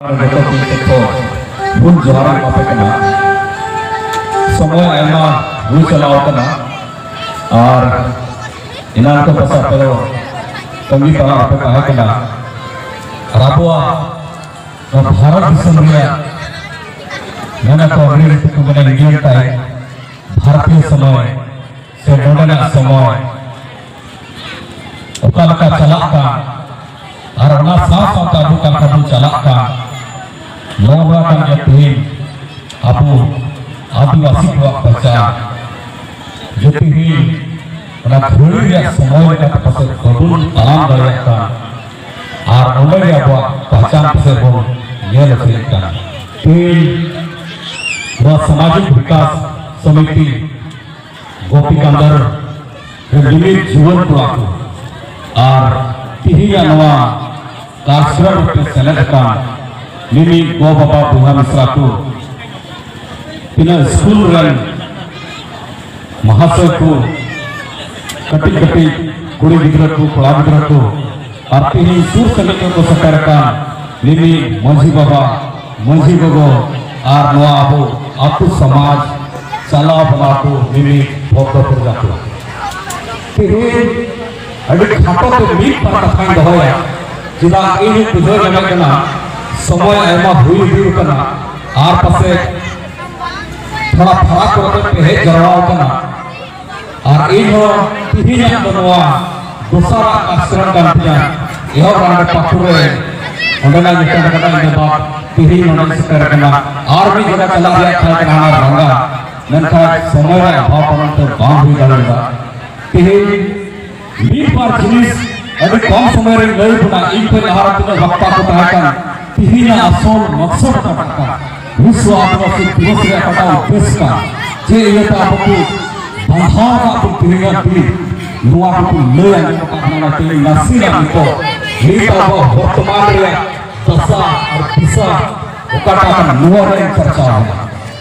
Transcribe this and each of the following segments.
ᱵᱷᱩᱞ ᱡᱚᱦᱟᱨ ᱮᱢᱟᱯᱮ ᱠᱟᱱᱟ ᱥᱚᱢᱚᱭ ᱟᱭᱢᱟ ᱦᱩᱭ ᱪᱟᱞᱟᱣ ᱟᱠᱟᱱᱟ ᱟᱨ ᱮᱱᱟᱱ ᱠᱚ ᱯᱟᱥᱟ ᱟᱯᱮ ᱫᱚ ᱛᱟᱺᱜᱤ ᱛᱟᱲᱟᱢ ᱟᱯᱮ ᱛᱟᱦᱮᱸ ᱠᱟᱱᱟ ᱟᱨ ᱟᱵᱚᱣᱟᱜ ᱱᱚᱣᱟ ᱵᱷᱟᱨᱚᱛ ᱫᱤᱥᱚᱢ ᱨᱮᱭᱟᱜ ᱢᱮᱱᱟ ᱠᱚ ᱟᱹᱰᱤ ᱠᱚ ᱢᱮᱱᱟ ᱤᱱᱰᱤᱭᱟᱱ ᱴᱟᱭᱤᱢ ᱵᱷᱟᱨᱚᱛᱤᱭᱚ ᱥᱚᱢᱚᱭ ᱥᱮ ᱱᱚᱰᱮᱱᱟᱜ ᱥᱚᱢᱚᱭ ᱚᱠᱟ ᱞᱮᱠᱟ ᱪᱟᱞᱟᱜ ᱠᱟᱱ ᱟᱨ ᱚᱱᱟ ᱥᱟᱶ ᱥᱟᱶᱛᱮ ᱟᱵᱚ ᱚᱠᱟ ᱞᱮᱠᱟ ᱵᱚᱱ ᱪᱟᱞᱟᱜ ᱠᱟᱱ ᱱᱚᱣᱟ ᱵᱟᱲᱟ ᱠᱟᱱ ᱜᱮᱭᱟ ᱛᱮᱦᱮᱧ ᱟᱵᱚ ᱟᱹᱫᱤᱵᱟᱹᱥᱤ ᱠᱚᱣᱟᱜ ᱯᱟᱪᱟᱨ ᱡᱮ ᱛᱮᱦᱮᱧ ᱚᱱᱟ ᱜᱷᱟᱹᱲᱤ ᱨᱮᱭᱟᱜ ᱥᱚᱢᱚᱭ ᱞᱮᱠᱟᱛᱮ ᱯᱟᱥᱮᱡ ᱵᱟᱵᱚᱱ ᱛᱟᱲᱟᱢ ᱫᱟᱲᱮᱭᱟᱜ ᱠᱟᱱ ᱟᱨ ᱚᱸᱰᱮ ᱜᱮ ᱟᱵᱚᱣᱟᱜ ᱯᱟᱪᱟᱨ ᱯᱟᱥᱮᱡ ᱵᱚᱱ ᱧᱮᱞ ᱦᱚᱪᱚᱭᱮᱫ ᱠᱟᱱᱟ ᱛᱮᱦᱮᱧ ᱱᱚᱣᱟ ᱥᱟᱢᱟᱡᱤᱠ ᱵᱤᱠᱟᱥ ᱥᱚᱢᱤᱛᱤ ᱜᱳᱯᱤ ᱠᱟᱱᱫᱟᱨ ᱡᱩᱢᱤᱫ ᱡᱩᱣᱟᱹᱱ ᱠᱚᱲᱟ ᱠᱚ ᱟᱨ ᱛᱤᱦᱤᱧᱟᱜ ᱱᱚᱣᱟ ᱠᱟᱨᱥᱨᱟ ᱨᱮᱯᱮ ᱥᱮᱞᱮᱫ ᱟᱠᱟᱱ ᱢᱤᱢᱤᱫ ᱜᱚ ᱵᱟᱵᱟ ᱵᱚᱭᱦᱟ ᱢᱤᱥᱨᱟ ᱠᱚ ᱛᱤᱱᱟᱹᱜ ᱥᱠᱩᱞ ᱨᱮᱱ ᱢᱟᱦᱟᱥᱚᱭ ᱠᱚ ᱠᱟᱹᱴᱤᱡ ᱠᱟᱹᱴᱤᱡ ᱠᱩᱲᱤ ᱜᱤᱫᱽᱨᱟᱹ ᱠᱚ ᱠᱚᱲᱟ ᱜᱤᱫᱽᱨᱟᱹ ᱠᱚ ᱟᱨ ᱛᱤᱦᱤᱧ ᱥᱩᱨ ᱥᱟᱺᱜᱤᱧ ᱠᱚ ᱥᱮᱴᱮᱨ ᱟᱠᱟᱱ ᱢᱤᱢᱤᱫ ᱢᱟᱺᱡᱷᱤ ᱵᱟᱵᱟ ᱢᱟᱹᱡᱷᱤ ᱜᱚᱜᱚ ᱟᱨ ᱱᱚᱣᱟ ᱟᱵᱚ ᱟᱛᱳ ᱥᱚᱢᱟᱡᱽ ᱪᱟᱞᱟᱣ ᱵᱟᱞᱟ ᱠᱚ ᱢᱤᱢᱤᱫ ᱵᱷᱚᱠᱛᱚ ᱯᱨᱚᱡᱟ ᱠᱚ ᱛᱮᱦᱮᱧ ᱟᱹᱰᱤ ᱠᱷᱟᱴᱚ ᱛᱮ ᱢᱤᱫ ᱵᱟᱨ ᱠᱟᱛᱷᱟᱧ ᱫᱚᱦᱚᱭᱟ ᱪᱮᱫᱟᱜ ᱤᱧ ᱵᱩᱡᱷᱟᱹᱣ ᱧᱟᱢᱮᱫ ᱠᱟᱱᱟ ᱥᱚᱢᱚᱭ ᱟᱭᱢᱟ ᱦᱩᱭ ᱤᱫᱤ ᱠᱟᱱᱟ ᱟᱨ ᱯᱟᱥᱮ ᱛᱷᱚᱲᱟ ᱯᱷᱟᱨᱟᱠ ᱠᱚᱨᱮ ᱯᱮ ᱦᱮᱡ ᱡᱟᱣᱨᱟ ᱟᱠᱟᱱᱟ ᱟᱨ ᱤᱧ ᱦᱚᱸ ᱛᱤᱦᱤᱧᱟᱜ ᱫᱚ ᱱᱚᱣᱟ ᱫᱚᱥᱟᱨᱟᱜ ᱟᱥᱨᱚᱢ ᱠᱟᱱ ᱛᱤᱧᱟ ᱮᱦᱚᱵ ᱨᱟᱱᱰᱮ ᱯᱟᱹᱠᱩᱲ ᱨᱮ ᱚᱸᱰᱮᱱᱟᱜ ᱧᱩᱛᱩᱢ ᱠᱟᱛᱮ ᱤᱧ ᱫᱚ ᱛᱤᱦᱤᱧ ᱱᱚᱰᱮ ᱥᱮᱴᱮᱨ ᱟᱠᱟᱱᱟ ᱟᱨ ᱢᱤᱫ ᱡᱟᱭᱜᱟ ᱪᱟᱞᱟᱜ ᱨᱮᱭᱟᱜ ᱛᱟᱦᱮᱸ ᱠᱟᱱᱟ ᱦᱟᱱᱟ ᱨᱟᱸᱜᱟ ᱢᱮᱱᱠᱷᱟᱱ ᱥᱚᱢᱚᱭ ᱨᱮ ᱚᱵᱷᱟᱵᱽ ᱠᱟᱨᱚᱱ ᱛᱮ ᱵᱟᱝ ᱦᱩᱭ ᱫᱟᱲᱮᱭᱟᱫᱟ ᱛᱤᱦᱤᱧ ᱢᱤᱫ ᱵᱟᱨ ᱡᱤᱱᱤᱥ ᱟᱹᱰᱤ ᱠᱚᱢ ᱥᱚᱢᱚᱭ ᱨᱮ ᱞᱟᱹᱭ ᱵᱚᱱᱟ ᱤᱧ ᱠᱷᱚᱱ ᱞᱟᱦᱟ ᱛᱤᱱᱟᱹᱜ ᱵᱟᱯᱛᱟ ᱠᱚ ᱛᱟᱦᱮᱸ ᱠᱟᱱᱟ ᱛᱤᱦᱤᱧᱟᱜ ᱟᱥᱚᱞ ᱢᱚᱠᱥᱚᱫ ᱫᱚ ᱠᱟᱱᱟ ᱵᱤᱥᱥᱚ ᱟᱹᱫᱤᱵᱟᱹᱥᱤ ᱫᱤᱵᱚᱥ ᱨᱮᱭᱟᱜ ᱠᱟᱴᱟᱣ ᱩᱯᱮᱥ ᱠᱟᱱᱟ ᱡᱮ ᱤᱭᱟᱹᱛᱮ ᱟᱵᱚ ᱠᱚ ᱵᱟᱫᱷᱟᱣ ᱠᱟᱜ ᱵᱚᱱ ᱛᱤᱦᱤᱧᱟᱜ ᱫᱤᱱ ᱱᱚᱣᱟ ᱠᱚᱠᱚ ᱞᱟᱹᱭ ᱟᱸᱡᱚᱢ ᱟᱠᱟᱫ ᱵᱚᱱᱟ ᱛᱮᱦᱤᱧ ᱱᱟᱥᱮᱱᱟᱜ ᱱᱤᱛᱚᱜ ᱱᱤᱛ ᱟᱵᱚ ᱵᱚᱨᱛᱚᱢᱟᱱ ᱨᱮᱭᱟᱜ ᱫᱚᱥᱟ ᱟᱨ ᱫᱤᱥᱟ ᱚᱠᱟᱴᱟᱜ ᱠᱟᱱᱟ ᱱᱚᱣᱟ ᱨᱮ ᱪᱟᱨᱪᱟᱣ ᱮᱱᱟ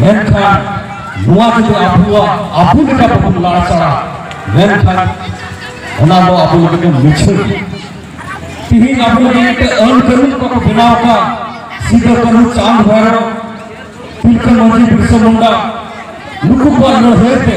ᱢᱮᱱᱠᱷᱟᱱ ᱱᱚᱣᱟ ᱡᱩᱫᱤ ᱟᱵᱚᱣᱟᱜ ᱟᱵᱚ ᱞᱮᱠᱟ ᱵᱟᱵᱚᱱ ᱞᱟᱲᱪᱟᱲᱟ ᱢᱮᱱᱠᱷᱟᱱ ᱚᱱᱟ ᱫᱚ ᱟᱵᱚ ᱞᱟᱹᱜᱤᱫ ᱵᱚᱱ ᱢᱩᱪᱷᱟᱹᱣ ᱛᱤᱦᱤᱧ ᱟᱵᱚ ᱞᱟᱹᱜᱤᱫ ᱢᱤᱫᱴᱮᱱ ᱟᱹᱱ ᱠᱟᱹᱱᱩᱱ ᱠᱚᱠᱚ ᱵᱮᱱᱟᱣ ᱟᱠᱟᱫ ᱥᱤᱫᱟᱹ ᱠᱟᱹᱱᱩ ᱪᱟᱸᱫ ᱵᱷᱟᱭᱨᱚ ᱛᱤᱞᱠᱟᱹ ᱢᱟᱹᱡᱷᱤ ᱵᱤᱨᱥᱟ ᱢᱩᱱᱰᱟ ᱱᱩᱠᱩ ᱠᱚᱣᱟᱜ ᱞᱟᱹᱲᱦᱟᱹᱭ ᱛᱮ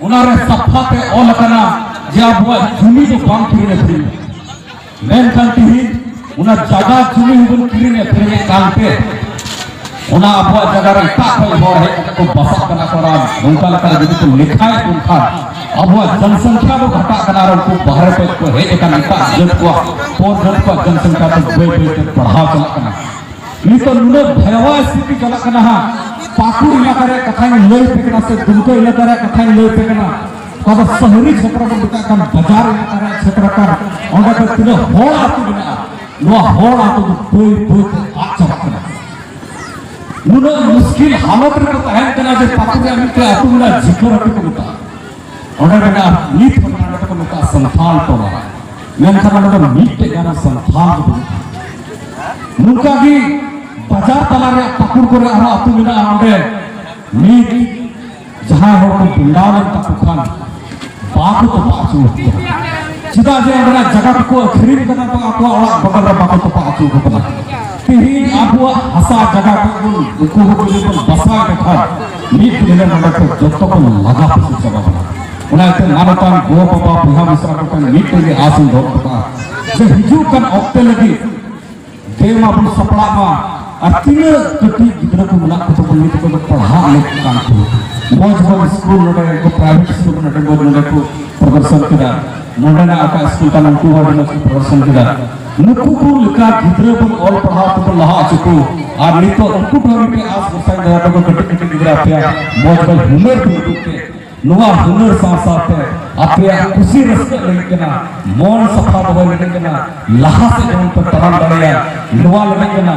ᱚᱱᱟᱨᱮ ᱥᱟᱯᱷᱟᱛᱮ ᱚᱞ ᱟᱠᱟᱱᱟ ᱡᱮ ᱟᱵᱚᱣᱟᱜ ᱡᱩᱢᱤ ᱫᱚ ᱵᱟᱝ ᱠᱤᱨᱤᱧ ᱟᱹᱠᱷᱨᱤᱧ ᱢᱮᱱᱠᱷᱟᱱ ᱛᱤᱦᱤᱧ ᱚᱱᱟ ᱡᱟᱭᱜᱟ ᱡᱩᱢᱤ ᱦᱚᱸᱵᱚᱱ ᱠᱤᱨᱤᱧ ᱟᱹᱠᱷᱨᱤᱧᱮᱫ ᱠᱟᱱᱛᱮ ᱚᱱᱟ ᱟᱵᱚᱣᱟᱜ ᱡᱟᱭᱜᱟ ᱨᱮ ᱮᱴᱟᱜ ᱠᱷᱚᱱ ᱦᱚᱲ ᱦᱮᱡ ᱠᱟᱛᱮ ᱠᱚ ᱵᱟᱥᱟᱜ ᱠᱟᱱᱟ ᱠᱚ ᱟᱨ ᱱᱚᱝᱠᱟ ᱞᱮᱠᱟᱨᱮ ᱡᱩᱫᱤ ᱠᱚ ᱞᱮᱠᱷᱟᱭᱮᱫ ᱵᱚᱱ ᱠᱷᱟᱱ ᱟᱵᱚᱣᱟᱜ ᱡᱚᱱᱥᱚᱝᱠᱷᱟ ᱫᱚ ᱜᱷᱟᱴᱟᱜ ᱠᱟᱱᱟ ᱟᱨ ᱩᱱᱠᱩ ᱵᱟᱦᱨᱮ ᱠᱷᱚᱱ ᱠᱚ ᱦᱮᱡ ᱟᱠᱟᱱ ᱮᱴᱟᱜ ᱡᱟᱹᱛ ᱠᱚᱣᱟᱜ ᱯᱚᱨ ᱡᱟᱹᱛ ᱠᱚᱣᱟᱜ ᱡᱚᱱᱥᱚᱝᱠᱷᱟ ᱫᱚ ᱵᱟᱹᱭ ᱵᱟᱹᱭᱛᱮ ᱵᱟᱲᱦᱟᱣ ᱪᱟᱞᱟᱜ ᱠᱟᱱᱟ ᱱᱤᱛᱚᱜ ᱱᱩᱱᱟᱹᱜ ᱵᱷᱟᱭᱟᱣᱟ ᱥᱛᱷᱤᱛᱤ ᱪᱟᱞᱟᱜ ᱠᱟᱱᱟ ᱦᱟᱸᱜ ᱯᱟᱹᱠᱩᱲ ᱮᱞᱟᱠᱟ ᱨᱮᱭᱟᱜ ᱠᱟᱛᱷᱟᱧ ᱞᱟᱹᱭ ᱯᱮ ᱠᱟᱱᱟ ᱥᱮ ᱫᱩᱢᱠᱟᱹ ᱮᱞᱟᱠᱟ ᱨᱮᱭᱟᱜ ᱠᱟᱛᱷᱟᱧ ᱞᱟᱹᱭ ᱯᱮ ᱠᱟᱱᱟ ᱚᱠᱟ ᱫᱚ ᱥᱚᱦᱚᱨᱤ ᱪᱷᱮᱛᱨᱚ ᱵᱚᱱ ᱢᱮᱛᱟᱜ ᱠᱟᱱ ᱵᱟᱡᱟᱨ ᱮᱞᱟᱠᱟ ᱨᱮᱭᱟᱜ ᱪᱷᱮᱛᱨᱚ ᱠᱟᱱ ᱚᱸᱰᱮ ᱫᱚ ᱛᱤᱱᱟᱹᱜ ᱦᱚᱲ ᱟᱹᱛᱩ ᱢᱮᱱᱟᱜᱼᱟ ᱱᱚᱣᱟ ᱦᱚᱲ ᱟᱹᱛᱩ ᱫᱚ ᱵᱟᱹᱭ ᱵᱟᱹᱭ ᱛᱮ ᱟᱫ ᱪᱟᱵᱟᱜ ᱠᱟᱱᱟ ᱱᱩᱱᱟᱹᱜ ᱢᱩᱥᱠᱤᱞ ᱦᱟᱞᱚᱛ ᱨᱮᱠᱚ ᱛᱟᱦᱮᱱ ᱠᱟᱱᱟ ᱡᱮ ᱯᱟᱹᱠᱩᱲ ᱨᱮᱭᱟᱜ ᱢᱤᱫᱴᱮᱱ ᱟᱹᱛᱩ ᱢᱮᱱᱟᱜᱼᱟ ᱡᱷᱤᱠᱟᱹᱨ ᱟᱹᱛᱩ ᱠᱚ ᱢᱮᱛᱟᱜᱼᱟ ᱚᱱᱟ ᱨᱮᱱᱟᱜ ᱱᱤᱛ ᱦᱚᱸ ᱱᱚᱰᱮ ᱠᱚ ᱢᱮᱛᱟᱜᱼᱟ ᱥᱟᱱᱛᱷᱟᱞ ᱴᱚᱞᱟ ᱢᱮᱱᱠᱷᱟᱱ ᱱᱚᱰᱮ ᱫᱚ ᱢᱤᱫᱴᱮᱡ ᱜᱟᱱ ᱥᱟᱱᱛᱷᱟᱞ ᱫᱚ ᱵᱟᱹᱱᱩᱜᱼᱟ ᱱᱚᱝᱠᱟ ᱜᱮ ᱵᱟᱡᱟᱨ ᱛᱟᱞᱟ ᱨᱮ ᱯᱟᱹᱠᱩᱲ ᱠᱚᱨᱮ ᱟᱨᱦᱚᱸ ᱟᱹᱛᱩ ᱢᱮᱱᱟᱜᱼᱟ ᱚᱸᱰᱮ ᱱᱤᱛ ᱡᱟᱦᱟᱸᱭ ᱦᱚᱲ ᱠᱚ ᱵᱮᱱᱟᱣ ᱞᱮᱱ ᱛᱟᱠᱚ ᱠᱷᱟᱱ ᱵᱟᱠᱚ ᱛᱚᱯᱟ ᱟᱹᱪᱩ ᱪᱮᱫᱟᱜ ᱡᱮ ᱚᱸᱰᱮᱱᱟᱜ ᱡᱟᱭᱜᱟ ᱠᱚᱠᱚ ᱟᱹᱠᱷᱨᱤᱧ ᱠᱟᱫᱟ ᱵᱟᱝ ᱟᱠᱚᱣᱟᱜ ᱚᱲᱟᱜ ᱵᱚᱫᱚᱞ ᱨᱮ ᱵᱟᱠᱚ ᱛᱚᱯᱟ ᱟᱹᱪᱩ ᱠᱚ ᱠᱟᱱᱟ ᱛᱮᱦᱮᱧ ᱟᱵᱚᱣᱟᱜ ᱦᱟᱥᱟ ᱡᱟᱭᱜᱟ ᱠᱚ ᱩᱱᱠᱩ ᱦᱚᱸ ᱡᱩᱫᱤ ᱵᱚᱱ ᱵᱟᱥᱟᱣ ᱞᱮᱠᱷᱟᱱ ᱢᱤᱫ ᱧᱤᱫᱟᱹ ᱱᱚᱰᱮ ᱠᱚ ᱡᱚᱛᱚ ᱠᱚ ᱞᱟᱜᱟ ᱯᱟᱹᱥᱤ ᱪᱟᱵᱟ ᱵᱟᱲᱟ ᱚᱱᱟᱛᱮ ᱢᱟᱱᱚᱛᱟᱱ ᱜᱚ ᱵᱟᱵᱟ ᱵᱚᱭᱦᱟ ᱢᱤᱥᱨᱟ ᱠᱚ ᱴᱷᱮᱱ ᱢᱤᱫᱴᱮᱱ ᱜᱮ ᱟᱥ ᱤᱧ ᱫᱚᱦᱚ ᱠᱟᱜᱼᱟ ᱡᱮ ᱦᱤᱡᱩᱜ ᱠᱟᱱ ᱚᱠᱛᱮ ᱞᱟᱹᱜᱤᱫ ᱫᱮᱣ ᱢᱟᱵᱚᱱ ᱥᱟᱯᱲᱟᱜ ᱢᱟ ᱟᱨ ᱛᱤᱱᱟᱹᱜ ᱠᱟᱹᱴᱤᱡ ᱜᱤᱫᱽᱨᱟᱹ ᱠᱚ ᱢᱮᱱᱟᱜ ᱠᱚ ᱛᱟᱵᱚᱱ ᱱᱤᱛ ᱠᱚᱫᱚ ᱯᱟᱲᱦᱟᱜ ᱞᱮᱠ ᱠᱟᱱ ᱠᱚ ᱢᱚᱡᱽ ᱢᱚᱡᱽ ᱥᱠᱩᱞ ᱱᱚᱰᱮ ᱠᱚ ᱯᱨᱟᱭᱵᱷᱮᱴ ᱥᱠᱩᱞ ᱱᱚᱰᱮ ᱢᱚᱡᱽ ᱱᱚᱰᱮ ᱠᱚ ᱯᱨᱚᱫᱚᱨᱥᱚᱱ ᱠᱮᱫᱟ ᱱᱚᱰᱮᱱᱟᱜ ᱚᱠᱟ ᱥᱠᱩᱞ ᱠᱟᱱᱟ ᱩᱱᱠᱩ ᱦᱚᱸ ᱟᱹᱰᱤ ᱢᱚᱡᱽ ᱠᱚ ᱯᱨᱚᱫᱚᱨᱥᱚᱱ ᱠᱮᱫᱟ ᱱᱩᱠᱩ ᱠᱚ ᱞᱮᱠᱟ ᱜᱤᱫᱽᱨᱟᱹ ᱵᱚᱱ ᱚᱞ ᱯᱟᱲᱦᱟᱣ ᱛᱮᱵᱚᱱ ᱞᱟᱦᱟ ᱦᱚᱪᱚ ᱠᱚ ᱟᱨ ᱱᱤᱛᱚᱜ ᱩᱱᱠᱩ ᱴᱷᱮᱱ ᱢᱤᱫᱴᱮᱱ ᱟᱥ ᱵᱷᱚᱨᱥᱟᱧ ᱫᱚᱦᱚ ᱠᱟᱠᱚ ᱠᱟᱹᱴᱤᱡ ᱠᱟᱹᱴᱤᱡ ᱜᱤᱫᱽᱨᱟᱹ ᱟᱯᱮᱭᱟᱜ ᱢᱚᱡᱽ ᱢᱚᱡᱽ ᱦᱩᱱᱟᱹᱨ ᱠᱚ ᱩᱫᱩᱜ ᱯᱮ ᱱᱚᱣᱟ ᱦᱩᱱᱟᱹᱨ ᱥᱟᱶ ᱥᱟᱶᱛᱮ ᱟᱯᱮᱭᱟᱜ ᱠᱩᱥᱤ ᱨᱟᱹᱥᱠᱟᱹ ᱞᱟᱹᱜᱤᱫ ᱠᱟᱱᱟ ᱢᱚᱱ ᱥᱟᱯᱷᱟ ᱫᱚᱦᱚᱭ ᱞᱟᱹᱜᱤᱫ ᱠᱟᱱᱟ ᱞᱟᱦᱟ ᱥᱮᱫ ᱡᱮᱢᱚᱱ ᱯᱮ ᱛᱟᱲᱟᱢ ᱫᱟᱲᱮᱭᱟᱜ ᱱᱚᱣᱟ ᱞᱟᱹᱜᱤᱫ ᱠᱟᱱᱟ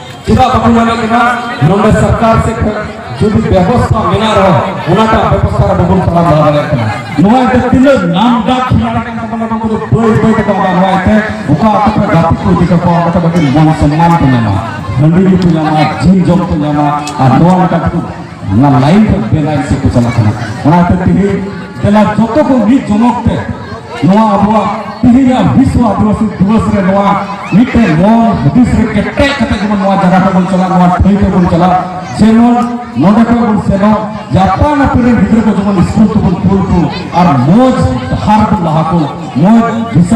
ᱪᱮᱫᱟᱜ ᱵᱟᱠᱚ ᱢᱟᱱᱟᱜ ᱠᱟᱱᱟ ᱱᱚᱰᱮ ᱥᱚᱨᱠᱟᱨ ᱥᱮᱫ ᱠᱷᱚᱱ ᱡᱩᱫᱤ ᱵᱮᱵᱚᱥᱛᱷᱟ ᱢᱮᱱᱟᱜ ᱨᱮᱦᱚᱸ ᱚᱱᱟᱴᱟᱜ ᱵᱮᱵᱚᱥᱛᱷᱟ ᱨᱮ ᱵᱟᱵᱚᱱ ᱛᱟᱲᱟᱢ ᱞᱟᱦᱟ ᱫᱟᱲᱮᱭᱟᱜ ᱠᱟᱱᱟ ᱱᱚᱣᱟ ᱫᱚ ᱛᱤᱱᱟᱹᱜ ᱱᱟᱢ ᱰᱟᱠ ᱠᱷᱮᱞᱟᱲ ᱠᱟᱱ ᱛᱟᱵᱚᱱᱟ ᱱᱚᱣᱟ ᱫᱚ ᱵᱟᱹᱭ ᱵᱟᱹᱭ ᱛᱮᱠᱚ ᱟᱫᱟ ᱱᱚᱣᱟ ᱛᱮ ᱚᱠᱟ ᱟᱛᱳ ᱠᱚ ᱜᱟᱛᱮ ᱠᱚ ᱤᱫᱤ ᱠᱟᱠᱚᱣᱟ ᱚᱸᱰᱮ ᱫᱚ ᱟᱹᱰᱤ ᱢᱟᱱ ᱥᱚᱱᱢᱟᱱ ᱠᱚ ᱧᱟᱢᱟ ᱦᱟᱺᱰᱤ ᱧᱩ ᱠᱚ ᱧᱟᱢᱟ ᱡᱤᱞ ᱡᱚᱢ ᱠᱚ ᱧᱟᱢᱟ ᱟᱨ ᱱᱚᱣᱟ ᱞᱮᱠᱟ ᱛᱮᱠᱚ ᱚᱱᱟ ᱞᱟᱭᱤᱱ ᱠᱷᱚᱱ ᱵᱮᱞᱟᱭᱤᱱ ᱥᱮᱫ ᱠᱚ ᱪᱟᱞᱟᱜ ᱠᱟᱱᱟ ᱚᱱᱟᱛᱮ ᱛᱮᱦᱮᱧ ᱫᱮᱞᱟ ᱡᱚᱛᱚ ᱠᱚ ᱢᱤᱫ ᱡᱚᱢᱚᱠ ᱛᱮ ᱱᱚᱣᱟ ᱟᱵᱚᱣᱟᱜ ᱛᱤᱦᱤᱧᱟᱜ ᱵᱤᱥᱣ ᱟᱹᱫᱤᱵᱟᱹᱥᱤ ᱫᱤᱵᱚᱥ ᱨᱮ ᱱᱚᱣᱟ ᱢᱤᱫᱴᱮᱱ ᱢᱚᱱ ᱦᱩᱫᱤᱥ ᱨᱮ ᱠᱮᱴᱮᱡ ᱠᱟᱛᱮ ᱡᱮᱢᱚᱱ ᱱᱚᱣᱟ ᱡᱟᱭᱜᱟ ᱛᱮᱵᱚᱱ ᱪᱟᱞᱟᱜ ᱱᱚᱣᱟ ᱴᱷᱟᱹᱭ ᱛᱮᱵᱚᱱ ᱪᱟᱞᱟᱜ ᱡᱮᱢᱚᱱ ᱱᱚᱰᱮ ᱠᱷᱚᱱ ᱵᱚᱱ ᱥᱮᱱᱚᱜ ᱡᱟᱯᱟᱱ ᱟᱯᱮ ᱨᱮᱱ ᱜᱤᱫᱽᱨᱟᱹ ᱠᱚ ᱡᱮᱢᱚᱱ ᱥᱠᱩᱞ ᱛᱮᱵᱚᱱ ᱠᱩᱞ ᱠᱚ ᱟᱨ ᱢᱚᱡᱽ ᱰᱟᱦᱟᱨ ᱵᱚᱱ ᱞᱟᱦᱟ ᱠᱚ ᱢᱚᱡᱽ ᱫᱤᱥᱟᱹ